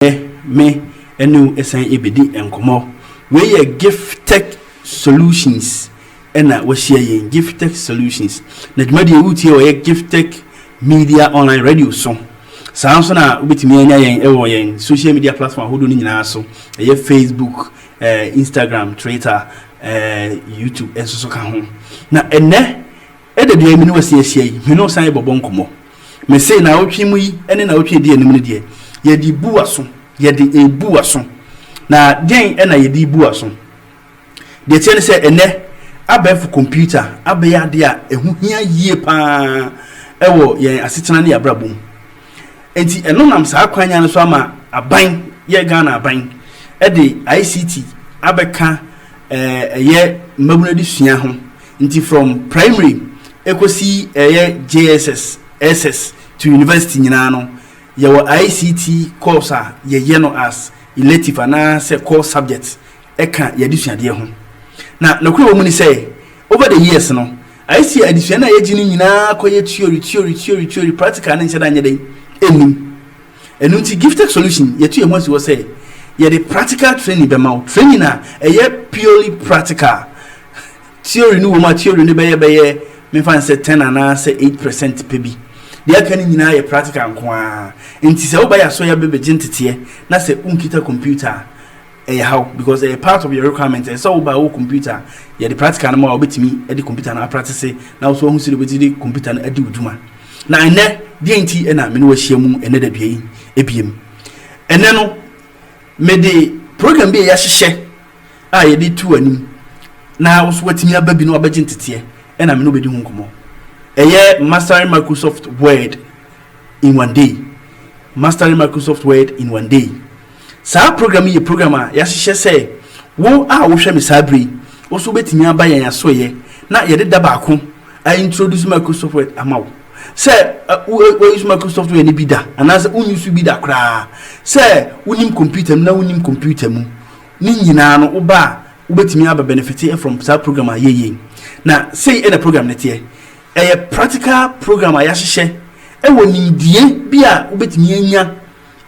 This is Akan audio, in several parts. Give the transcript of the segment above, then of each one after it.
Nnɛ me ne wo ɛsan ɛbɛdi nkɔmmɔ. Wei yɛ Gifted Solutions ɛna wahyia yɛn, Gifted Solutions. Na dwumadie yi wotie wɔ yɛ Gifted Media Online Radio so. Saa nso na wobɛtumi anya yɛn ɛwɔ yɛn social media platform ahodoɔ no nyinaa so. Ɛyɛ Facebook, eh, Instagram, Twitter, eh, YouTube nso so ka ho. Na ɛnɛ Ɛda deɛ me ne wo asi ahyia yi, me ne wo san rebɛbɔ nkɔmmɔ. Mese nnawɔtwe mu yi ne nnawɔtwe a ɛdi anim no deɛ, yɛde rebu w'aso, yɛde rebu w'aso. Na deɛn na yɛde rebu w'aso? Deɛ ɛteɛ ne sɛ, ɛnnɛ, abɛɛfo kɔmputa abɛyɛ adeɛ a ɛho hia yie pa ara wɔ yɛn asetena ne yɛn abrabɔ mu. Enti ɛno nam saa kwan no so ama aban, yɛn Ghana aban de ICT abɛka ɛyɛ mmabunu adesua ho. Nti from primary ɛkɔsi ɛyɛ JSS, SS to university nyinaa no yɛwɔ ICT course a yɛyɛ no as elective anaa sɛ core subject ɛka yɛn adesuadeɛ ho. Na nokorɛ wɔ mu ne sɛ over the years no ayɛ sɛ adesua no a yɛgye no nyinaa kɔyɛ theory, theory, theory, theory, practical no nhyɛda nyɛ dɛn nnim. Ɛno nti Gifttech Solution yɛatu yɛn ho asi hɔ sɛ yɛde practical training bɛma wo, training a ɛyɛ purely practical, theory no wom a theory no bɛyɛ bɛyɛ memfa no sɛ ten anaa sɛ eight percent pɛ bi, deɛ aka no nyinaa yɛ practical nko ara. Nti sɛ woba yɛn asɔre a bɛbɛgye nteteɛ na sɛ wonkita computer a Ɛyɛ haw because ɛyɛ part of your requirement, ɛsɛ sɛ woba a wowɔ computer a yɛde practical no ma wo a wobɛtumi de computer no apratise na wo nso woahu sɛdeɛ wobɛtumi de computer no adi wo dwuma. Na ɛnnɛ, deɛn nti na me ne wo ahyia mu ɛnnɛ da dua yi biom? Ɛnnɛ no, mede program bi a yɛahyehyɛ a yɛde tu w'anim na wo nso woatumi aba bi na wabɛgye nteteɛ ɛna me ne wobɛdi ho nkɔmmɔ. Ɛyɛ Mastering Microsoft Word in One Day. Mastering Microsoft Word in One Day. Saa program yi yɛ program a yɛahyehyɛ sɛ wo a wohwɛ me saa bere yi, wo nso wubetumi aba yɛn asoɛeɛ na yɛde da baako a introduce Microsoft Word ama wo. Sɛ wo use Microsoft Word no bi da anaasɛ wo use bi da koraa, sɛ wonim computer mu na wonim computer mu, ne nyinaa no wo ba a wobɛtumi aba benefite from saa program a yɛyɛ yi. Na sei ɛna program no teɛ. Ɛyɛ practical program a yɛahyehyɛ ɛwɔ nimdie bi a wobɛtumi anya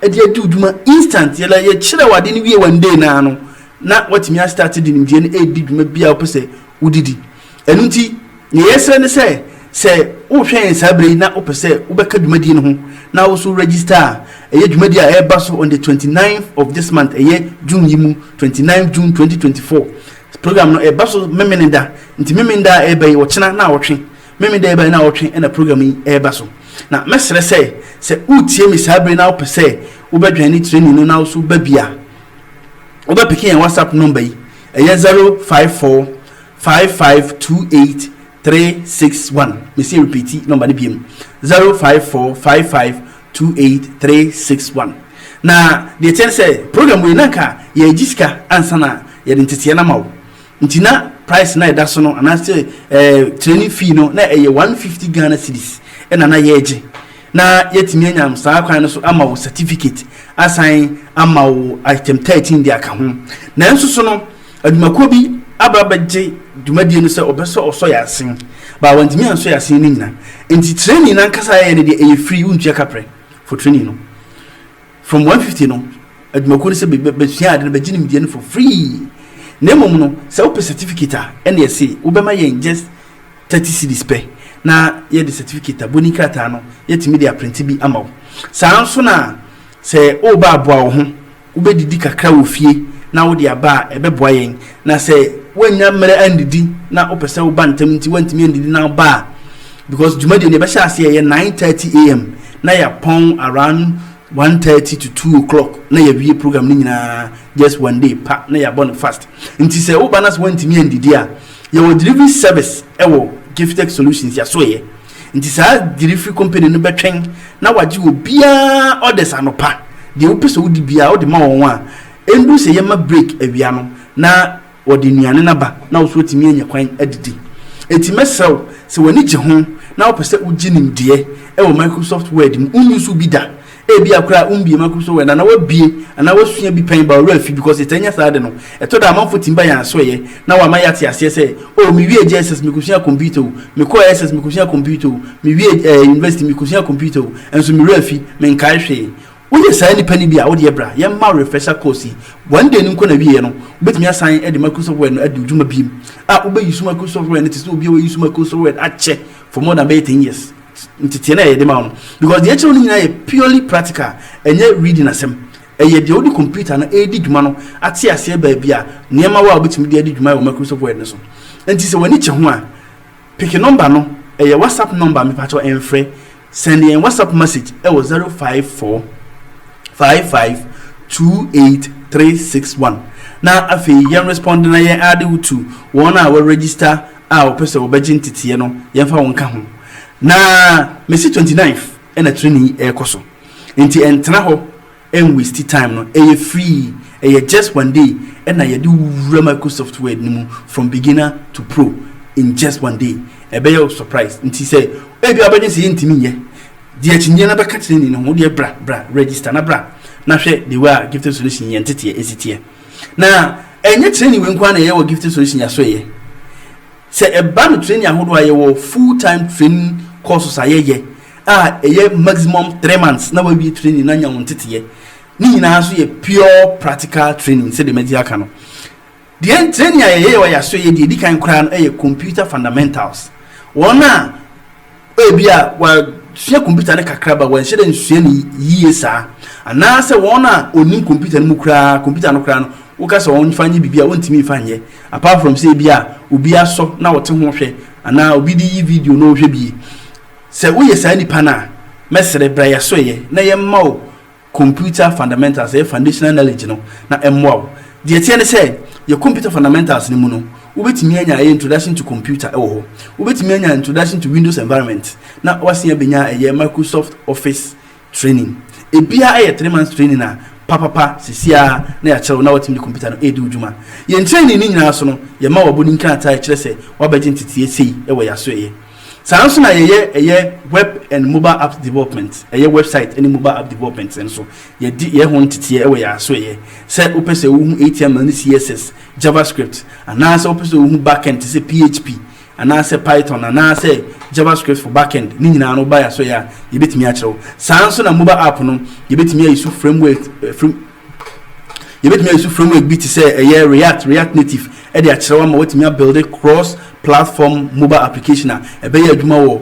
de adi wo dwuma instant yɛ la yɛkyerɛ wo ade no wie one day no ara no na woatumi a start de nimdeɛ no ɛredi dwuma bi a wopɛ sɛ wode di ɛno nti nea yɛsrɛ ne sɛ sɛ wohwɛ yɛn saa berɛ yi na wopɛ sɛ wobɛka dwumadie no ho na wo so register a ɛyɛ dwumadie a ɛreba so on the 29th of this month ɛyɛ June yi mu 29 June 2024 program no ɛba so memeneda nti memeneda a ɛreba yi ɔkyena na ɔtwe Memeneda yi bɛyɛ nnawɔtwe na program yi reba so, na mɛsrɛ sɛ, sɛ wutie me saa bere yi na wopɛ sɛ wobɛdwɛn ne training no na wo nso ba bi a, wobɛpeke yɛn WhatsApp number yi, ɛyɛ zero five four five five two eight three six one. Mesie repeati number no biom, zero five four five five two eight three six one. Na deɛ ɛteɛ ne sɛ, program wei na anka yɛregye sika ansa na yɛde nteteɛ no ama wo. Nti na price na ɛda so no anaa sɛ eh, training fee no na ɛyɛ 150 Ghana cedis ɛna na yɛregye. Na yɛatumi anyam saa kwan no so ama wo certificate asan ama wo item 13 de aka ho. Nanso so no, adwumakuo bi aba bɛgye dwumadie no sɛ ɔbɛsɔ ɔsɔ yɛ asen. Baa wantumi ansɔ yɛ asen no nyina. Nti training no ankasa yɛyɛ no deɛ ɛyɛ free, wontua kaprɛ for training no. From one fifty no, adwumakuo no sɛ bɛ bɛ bɛsua ade no bɛgye nimdeɛ no for free. Na mmom no, sɛ wopɛ certificate a, ɛna ɛse wobɛma yɛn just thirty cedis pɛ na yɛde certificate a boni krataa no yɛtumi de aprente bi ama wo. Saa ara nso na sɛ woreba aboa wo ho, wobɛdidi kakra wɔ fie na wode aba a ɛbɛboa yɛn. Na sɛ woannya mmerɛ andidi na wopɛ sɛ woba ntɛm nti woantumi andidi na woba a, because dwumadie no yɛbɛhyɛ aseɛ ɛyɛ 9:30 am na yɛapɔn around 1:30 to 2 o'clock na yɛawie program no nyinaa just one day pa na yɛabɔ no fast. Nti sɛ woba na sɛ woantumi andidi a, yɛwɔ delivery service ɛwɔ Gifted Solutions yɛasoeɛ. Nti saa delivery company no bɛtwɛn na wagye obiara orders anɔpa. Deɛ wopɛ sɛ wodi biara wode ma wɔn a, Ɛndu sɛ yɛma break awia no na wɔde nnuane no aba na wo nso watumi anya kwan adidi. Enti mɛsrɛ wo sɛ w'ani gye ho na wopɛ sɛ wogye nimdeɛ wɔ Microsoft Word mu, wonni so bi da, ebia koraa wommie Microsoft Word anaa wabie anaa wasua bi pɛn ba ɔwerɛ afi because yɛtaa nya saa ade no. Ɛtɔ da a amanfoɔ tumi ba yɛn asoɛeɛ na wɔama yɛate aseɛ sɛ, Oh, mewiee JSS, mekɔsuaa kɔmputa o, mekɔɔ SS, mekɔsuaa kɔmputa o, mewiee ɛɛ university, mekɔsuaa kɔmputa o, nso me werɛ afi, menkae hwee. Woyɛ saa nnipa no bi a, wo deɛ bra yɛmma wo refresher course yi. One day no nko na wieɛ no, wobɛtumi asan de Microsoft Word no adi wo dwuma biom. A Wobɛuse Microsoft Word no te sɛ obi a wause Microsoft Word akyɛ for more than bɛyɛ ten years. Nteteɛ no a yɛde ma wo no, because deɛ ɛkyerɛ wo no nyinaa yɛ purely practical, ɛnyɛ reading asɛm. Ɛyɛ deɛ wode computer no redi dwuma no ate aseɛ baabi a nneɛma wɔ a wobɛtumi de adi dwuma wɔ Microsoft Word no so. Enti sɛ w'ani kyɛ ho a, Pick number no ɛyɛ whatsapp number mepakyɛw ɛnfrɛ send yɛn whatsapp message ɛwɔ zero five four five five two eight three six one na afei yɛn respond na yɛn add wo to wɔn a wɔ register a wɔpɛ sɛ wɔbɛgye nteteɛ no yɛn fa wo nka ho na mesi twenty ninth ɛna training yi ɛkɔ so nti ɛntena hɔ Ɛnwasti time no, ɛyɛ free, ɛyɛ just one day ɛna yɛde wo wura Microsoft Word no mu from beginner to pro in just one day. Ɛbɛyɛ wo surprise nti sɛ ebia wobɛdwene sɛ yɛntumi nyɛ deɛ akyinyeɛ no bɛka kyerɛ ni no ho wodeɛ bra bra register na bra na hwɛ the way a Gifted Solution yɛn nteteɛ ɛsi teɛ. Na ɛnyɛ training wei nko ara na ɛyɛ wɔ Gifted Solution yɛ aso ɛyɛ sɛ ɛba no training ahodoɔ a yɛwɔ full time training courses a yɛyɛ a ɛyɛ maximum three months na wawie training na anya wo nteteɛ ne nyinaa so yɛ pure practical training sɛdeɛ madi aka no deɛ training a yɛyɛ wɔ yɛaso yɛ deɛ ɛdi kan koraa no ɛyɛ computer fundamentals wɔn a ebi a wasua computer no kakra ba wɔnhyɛ dɛ nsua no yie saa anaasɛ wɔn a ɔnim computer no mu koraa computer no koraa no woka sɛ wɔn fa nyɛ biribi a wɔntumi nfa nyɛ apart from sɛ ebi a obi asɔ na wɔte ho hwɛ anaa obi de yi video na ɔhwɛ bie Sɛ woyɛ saa nipa no a, mɛsrɛ bra yɛn asoɛeɛ na yɛmma wo Computer Fundamentals, ɛyɛ Foundational Knowledge no, na ɛmmoa wo. Deɛ ɛteɛ ne sɛ, yɛn Computer Fundamentals no mu no, wobɛtumi anya ɛyɛ Introduction to Computer ɛwɔ hɔ, wobɛtumi anya Introduction to Windows Environment, na woasen abɛnya ɛyɛ Microsoft Office Training, Ebiaa ɛyɛ three months training a papapa sisi ara na yɛakyerɛ wo na woatumi de computer no ɛredi wo dwuma. Yɛn training no nyinaa so no, yɛma wo abɔni nkrataa a ɛkyerɛ sɛ woabɛgye nteteeɛ sei wɔ yɛn asoɛeɛ. Saa ara nso na yɛyɛ ɛyɛ web and mobile apps development, ɛyɛ website ne mobile app development no nso, yɛde yɛ ho nteteeɛ wɔ yɛn asoɛeɛ. Sɛ wopɛ sɛ wohu HTML ne CSS, JavaScript, anaasɛ wopɛ sɛ wohu backend te sɛ PHP, anaasɛ Python anaasɛ JavaScript for backend ne nyinaa no woba yɛn so yɛ a yɛbɛtumi akyerɛ wo. Saa nso na mobile app no yɛbɛtumi ayi so framework eh, frame, yɛbɛtumi ayi so framework bi te sɛ ɛyɛ React, React Native ɛde akyerɛ wo ama watumi abuilde cross platform mobile application a ɛbɛyɛ adwuma wɔ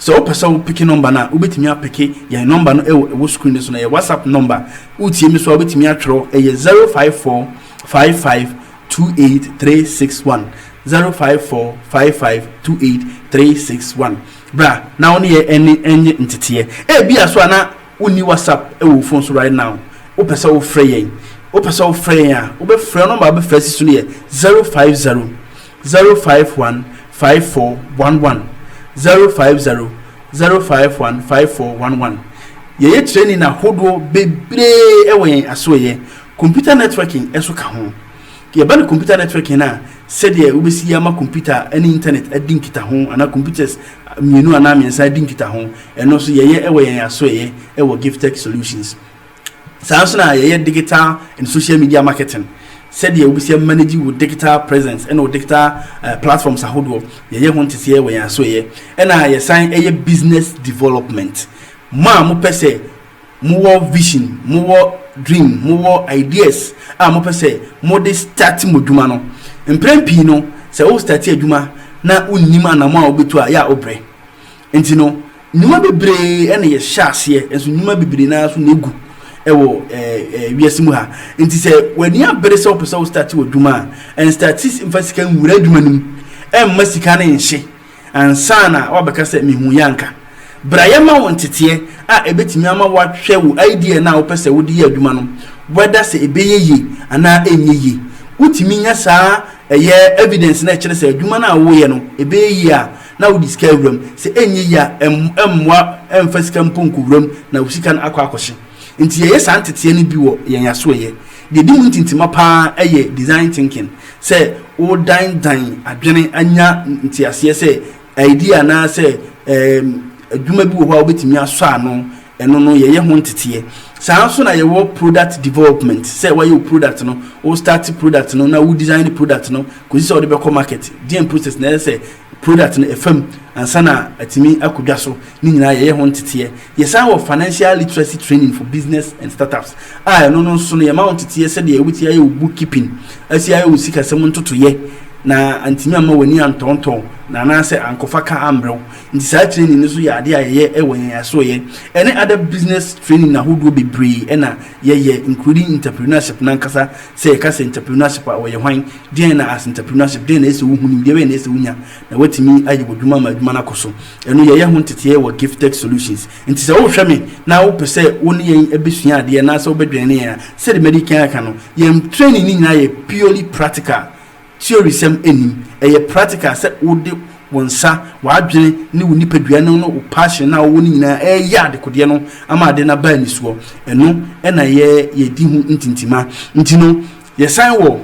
Sɛ wo pɛ sɛ wo peke nɔmba no a, wo bɛtumi apeke yɛn nɔmba no ɛwɔ ɛwɔ screen no so no ɛyɛ WhatsApp nɔmba. Wo tie me so a wo bɛtumi atwerɛ ɛyɛ zero five four five five two eight three six one zero five four five five two eight three six one bra na wo ne yɛ ɛne ɛnye nteteɛ. Ɛbia so a na wo nni WhatsApp ɛwɔ wo phone so right now wo pɛ sɛ wo frɛ yɛn wo pɛ sɛ wo frɛ yɛn a wo bɛ frɛ nɔmba a wo bɛ frɛ asi so no yɛ zero five zero. zero five one five four one one zero five zero zero five one five four one one Yɛyɛ training ahodoɔ bebree wɔ yɛn asoɛyɛ, computer networking nso ka ho. Yɛba no computer networking no a, sɛdeɛ wobɛsi yɛ ama computer ne internet adi nkitaho anaa computers mmienu anaa mmiɛnsa adi nkitaho, ɛno nso yɛyɛ wɔ yɛn asoɛyɛ wɔ Giftech Solutions. Saa ara nso na yɛyɛ digital and social media marketing, sɛdeɛ wobɛsi a manage wo digital presence ɛna wo digital platforms ahodoɔ, yɛyɛ ho nteseɛ wɔ yɛn asoɛeɛ. Ɛna yɛsan yɛ business development. Mo a mopɛ sɛ mowɔ vision, mowɔ dream, mowɔ ideas a mopɛ sɛ mode start mo adwuma no, mprɛn pii no sɛ wo start adwuma na wonnim anamɔ a wobɛtu a, yɛ a wobrɛ. Nti no, nnwuma bebree na yɛhyɛ aseɛ, nso nnwuma bebree no ara so na ɛgu wɔ wiase mu ha. Nti sɛ w'ani abere sɛ wopɛ sɛ wo starte w'adwuma a, ɛnstarte mfa sika nwura adwuma no mu, ɛmma sika no nhye ansa na woabɛka sɛ mehuiɛ anka. Bra yɛma wo nteteɛ a ɛbɛtumi ama woahwɛ wo idea no a wopɛ sɛ wode yɛ adwuma no whether sɛ ɛbɛyɛ yie anaa ɛnyɛ yie. Wotumi nya saa ɛyɛ evidence no a ɛkyerɛ sɛ adwuma no a woreyɛ no ɛbɛyɛ yie a, na wode sika awura mu, sɛ ɛnyɛ yie a ɛmmoa ɛmfa sika mpo nkɔwura mu na wo sika no akɔ akɔhye. Nti yɛyɛ saa nteteɛ no bi wɔ yɛn asoɛyɛ. Deɛ ɛdi mu ntintima pa ara yɛ design thinking, sɛ woredandan adwene anya nteaseɛ sɛ idea anaasɛ adwuma bi wɔ hɔ a wobɛtumi asɔ ano, Ɛno no yɛyɛ ho nteteɛ. Saa ara nso na yɛwɔ product development, sɛ woayɛ wo product no, wo start product no na wo design product no kɔsi sɛ wode bɛkɔ market, deɛn process na ɛsɛ sɛ product no ɛfa mu ansa na atumi akɔ dwa so, ne nyinaa yɛyɛ ho nteteɛ. Yɛsan wɔ financial literacy training for business and startups a ɛno no nso no yɛma wo nteteɛ sɛdeɛ wobɛtumi ayɛ wo book keeping, asi ayɛ wo sikasɛm ntotoeɛ na antumi amma w'ani antɔntɔn na anaasɛ ankɔfa ka ammrɛ wo. Nti saa training no so yɛ adeɛ a yɛyɛ wɔ yɛn asoɛyɛ ɛne other business training ahodoɔ bebree ɛna yɛyɛ including entrepreneurship no ankasa sɛ yɛka sɛ entrepreneurship a ɔyɛ hwan, deɛn na as entrepreneurship deɛn na ɛsɛ wohu, nimdeɛ bɛn na ɛsɛ wonya na woatumi ayɛ w'adwuma ama adwuma no akɔ so ɛno yɛyɛ ho nteteɛ wɔ Gifttech Solutions nti sɛ wohwɛ me na wopɛ sɛ wo ne yɛn bɛsua adeɛ anaasɛ wobɛdwɛne yɛn a sɛdeɛ madi kan aka no yɛn training no nyinaa yɛ purely practical. Theory-sɛm nnim. Ɛyɛ practical, sɛ wode wo nsa, w'adwene, ne wo nipadua no ne wo passion no a wowɔ no nyinaa reyɛ adekodeɛ no ama ade no aba anisoɔ. Ɛno na yɛ yɛdi ho ntintima. Nti no, yɛsan wɔ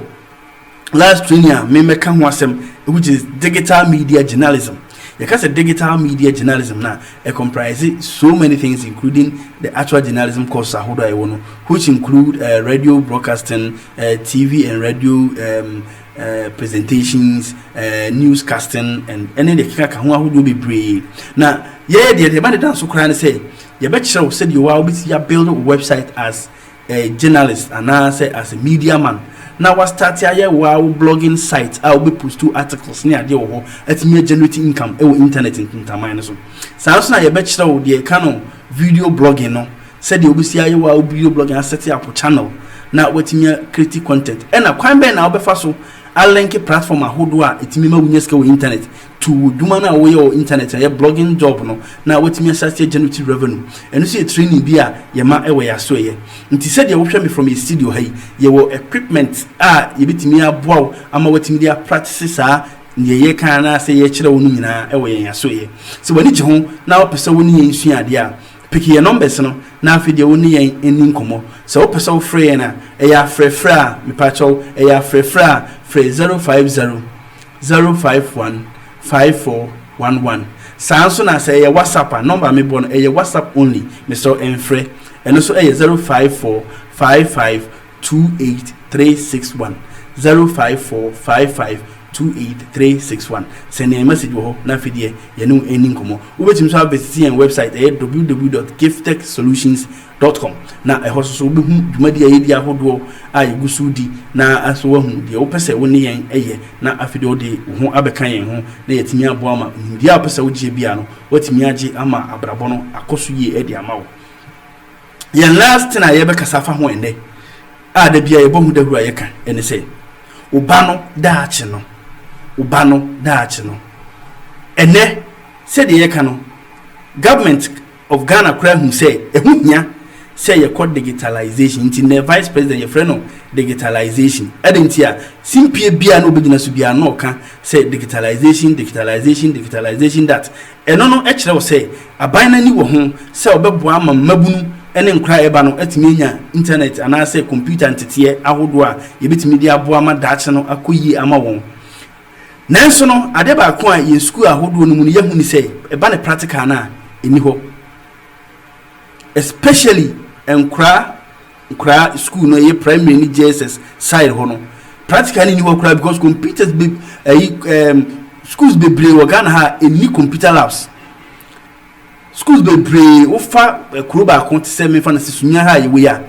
last training a memmɛka ho asɛm which is digital media journalism. Yɛka sɛ digital media journalism no a, ɛ comprise so many things including the actual journalism courses ahodoɔ a yɛwɔ no which include uh, radio broadcasting, uh, TV and radio um, uh, presentations, uh, newscasting, and ɛne deɛ keka ka ho ahodoɔ bebree na yɛyɛ deɛ deɛ ɛba deda nso koraa ne sɛ yɛbɛkyerɛ wo sɛdeɛ wa wobɛsi abuild website as a journalist anaasɛ as a media man na wastarte ayɛ wa wo blogging site a wobɛpostu articles ne adeɛ wɔ hɔ atumi agenerate income ɛwɔ internet ntaman no so saa nso na yɛbɛkyerɛ wo deɛ ɛka no video blogging no Sɛdeɛ wobɛsi ayɛ wo a wo video blogging asɛte apo channel na woatumi a create content ɛna kwan bɛn na wobɛfa so a linke platform ahodoɔ a ɛtumi ma wonya sika wɔ internet to wo dwuma no a woyɛ wɔ internet ɛyɛ blogging job no na woatumi ahyɛ aseɛ generative revenue ɛno nso yɛ training bi a yɛma ɛwɔ yɛn asoɛyɛ nti sɛdeɛ wohwɛ me from yɛ studio ha yi yɛwɔ equipment a yɛbɛtumi aboa wo ama woatumi de a practice saa deɛ yɛka anaasɛ yɛkyerɛ wo no nyinaa ɛwɔ yɛn asoɛyɛ sɛ w'ani gye ho na wopɛ sɛ wo ne yɛn sua adeɛ a Pick yɛn numbers no na afei deɛ wo ne yɛn nni nkɔmmɔ. Sɛ wo pɛ sɛ wo frɛ yɛn a, ɛyɛ afrɛ frɛ a, mepa kyɛw, ɛyɛ afrɛ frɛ a, frɛ 050 051 5411. Saa nso na sɛ ɛyɛ WhatsApp a, number a mebɔ no, ɛyɛ WhatsApp only, mesrɛ wo ɛnfrɛ. Ɛno nso ɛyɛ 054 55 two eight three six one zero five four five five two eight three six one sɛn yɛn message wɔ hɔ na afei deɛ yɛne wo ɛni nkɔmmɔ wobɛtumi nso abɛsisi yɛn website ɛyɛ www.giftechsolutions dot com na ɛhɔ soso wobɛhu dwumadi a yɛdi ahodoɔ a yɛgu so di na aso wahu deɛ wopɛ sɛ wo ne yɛn ɛyɛ na afei deɛ wode wo ho abɛka yɛn ho na yɛatumi aboa ma nimdeɛ a wopɛ sɛ wogyeɛ bia no woatumi agye ama abrabɔ no akɔ so yie ɛde ama wo. Yɛn last thing a yɛbɛkasa afa ho ɛnnɛ a da bia yɛbɔ ho dawuro a yɛka ɛne sɛ wo ba no daakye no wo ba no daakye no ɛnɛ sɛdeɛ yɛka no government of Ghana koraa hu sɛ ɛho hia sɛ yɛkɔ digitalization nti na vice president yɛfrɛ no digitalization ɛde nti a simpie bia na ɔbɛgyina so bia na ɔka sɛ digitalization digitalization digitalization that Ɛno no kyerɛ wo sɛ aban no ani wɔ ho sɛ wɔbɛboa ama mmabunu ne nkoraa a ɛreba no atumi anya intanɛt anaasɛ kɔmputa nteteɛ ahodoɔ a yɛbɛtumi de aboa ma daakye no akɔ yie ama wɔn. Nanso no, adeɛ baako a yɛn sukuu ahodoɔ no mu no yɛahu ne sɛ ɛba no practical no a, ɛnni hɔ. Especially nkoraa. Nkora school no ɛyɛ primary ne JSS side hɔ no practical no nni hɔ koraa because computers be ɛyi ɛɛm schools bebree wɔ Ghana ha ɛnni computer labs schools bebree wofa kuro baako te sɛ mefa no sɛ Sunyani ha a yɛwɔ yi a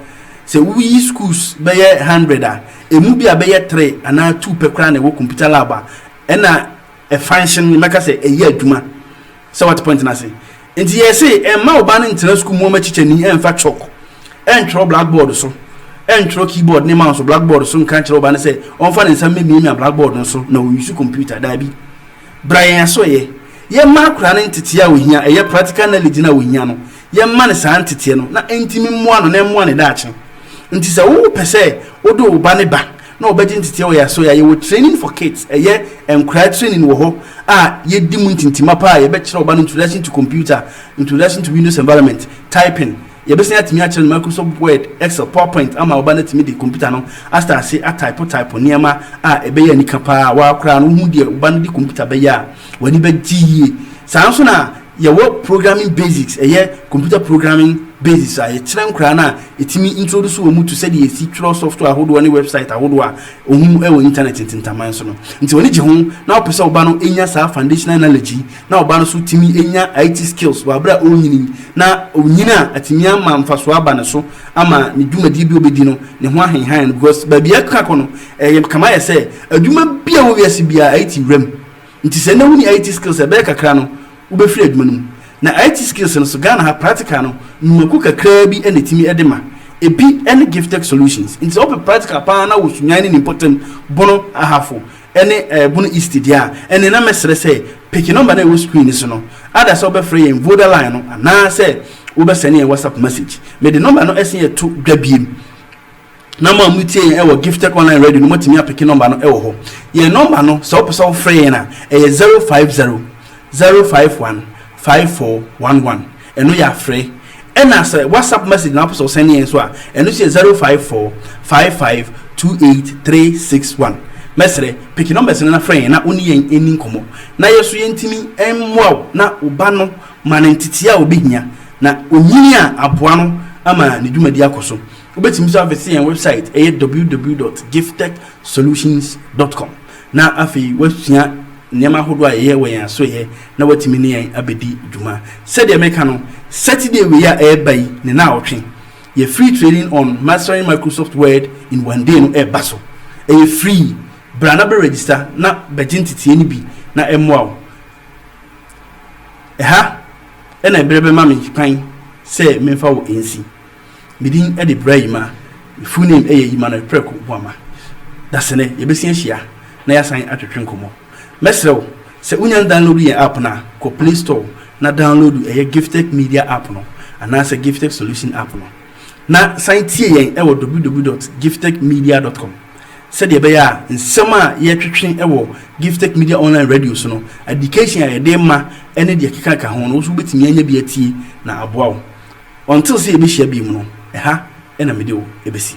sɛ woyi schools bɛyɛ hundred a ɛmu bi a bɛyɛ three anaa two pɛ koraa na ɛwɔ computer lab a ɛna ɛfanhye no mɛka sɛ ɛyɛ adwuma Sɛ wate point no ase. Nti yɛse mma wo ba no ntena sukuu mu ɔma kyikyani mfa chalk ntwerɛ blackboard so ntwerɛ keyboard ne mouse blackboard so nka nkyerɛ wo ba no sɛ ɔmfa ne nsa mmɛmiamia blackboard no so na ɔuse computer daabi bra yɛn asoɛyɛ yɛmma akora no nteteɛ a ɔhia ɛyɛ practical knowledge no a ɔhia no yɛmma no saa nteteɛ no na ɛntimi mmoa no na ɛmmoa ne daakye nti sɛ wo pɛ sɛ wode wo ba ne ba na wɔbɛgye nteteɛ wɔ yɛn aso yɛ a yɛwɔ training for kids ɛyɛ nkwadaa training wɔ hɔ a yɛdi mu ntintima paa a yɛbɛkyerɛ ɔba no introduction to computer introduction to windows environment typing yɛbɛsan atumi akyerɛ no microsoft word excel powerpoint ama ɔba no atumi de computer no asta ase atype type nneɛma a ɛbɛyɛ anika paa waa koraa no wohu deɛ ɔba no de computer bɛyɛ a w'ani bɛgye yie saa nso na Yɛwɔ programming basics, ɛyɛ computer programming basics a yɛkyerɛ nkoraa no a ɛtumi introduce wɔn to sɛdeɛ yɛsi twerɛ software ahodoɔ ne website ahodoɔ a ɔhu wɔ internet ntintaman so no. Nti w'ani gye ho na wopɛ sɛ wo ba no nya saa foundational knowledge yi na wo ba no nso tumi nya IT skills wɔ aberɛ a ɔrenyini yi na ɔnyini a atumi ama mfasoɔ aba ne so ama ne dwumadie bi a ɔbɛdi no ne ho ahenhan no because baabi a ɛkeka kɔ no ɛyɛ kama ayɛ sɛ adwuma bi a ɛwɔ wiase biara IT wura mu Nti sɛ nnɛ wonni IT skills a ɛbɛyɛ kakra no wobɛfiri adwuma no mu. Na IT skills no so Ghana ha practical no nnwumakuo kakraa bi na ɛtumi de ma. Ɛbi ne Giftech Solutions. Nti sɛ wopɛ practical paa na wɔ Sunyani ne Nimpɔtam, Bono, Ahafo ne ɛɛ Bono East deɛ a, ɛnneɛ na mɛsrɛ sɛ peke number no a ɛwɔ screen no so no. Ada sɛ wobɛfrɛ yɛn Voda line no anaasɛ wobɛsɛne yɛn WhatsApp message. Mede number no ɛsen ɛto dwa biem. Na mo a mo tie yɛn wɔ gifted online radio no mo tumi apeke number no wɔ hɔ yɛn number no sɛ wo pɛ sɛ wo frɛ yɛn a ɛyɛ zero five zero zero five one five four one one ɛno yɛ afrɛ ɛna sɛ whatsapp message na wo pɛ sɛ wo sɛne yɛn nso a ɛno nso yɛ zero five four five five two eight three six one mɛsrɛ peke numbers no na frɛ yɛn na wo ne yɛn ɛni nkɔmɔ na yɛ so yɛn timi ɛmmoa wo na wo ba no ma no nteteɛ a ɔbɛhia na ɔnyini a aboa no ama ne dwumadi akɔ so Wobɛtumi nso avese yɛn wɛbsaet, ɛyɛ www.giftechsolutions.com, na afei woasua nneɛma ahodoɔ a yɛyɛ wɔ yɛn asoɛeɛ na woatumi ne yɛn abɛdi dwuma. Sɛdeɛ meka no, Saturday wei a ɛreba yi ne naawɔtwe, yɛn Free Training on Mastering Microsoft Word in One Day no reba so. Ɛyɛ free. Bra na bɛregister na bɛgye nteteɛ no bi na ɛmmoa wo. Ɛha na ɛberɛ bɛma me kwan sɛ memfa wo nsi. Me din de Bra Yima. Me full name yɛ Yima Noy Prɛko Boama. Dasene yɛbɛsi ahyia na yɛasan atwetwe nkɔmmɔ. Mɛsrɛ wo sɛ wonya ndownloadu yɛn app no a, kɔ Play Store na downloadu ɛyɛ Gifttech Media app no anaasɛ Gifttech Solution app no. Na san tie yɛn wɔ www dot gifttech media dot com sɛdeɛ ɛbɛyɛ a nsɛm a yɛretwetwe wɔ Gifttech Media Online Radio so no, adikehye a yɛde rema ne deɛ ɛkekaka ho no, wo nso wobɛtumi anya bi atie na aboa wo. Until sɛ yɛbɛhyia bio mu no, ɛha na mede wo bɛsi.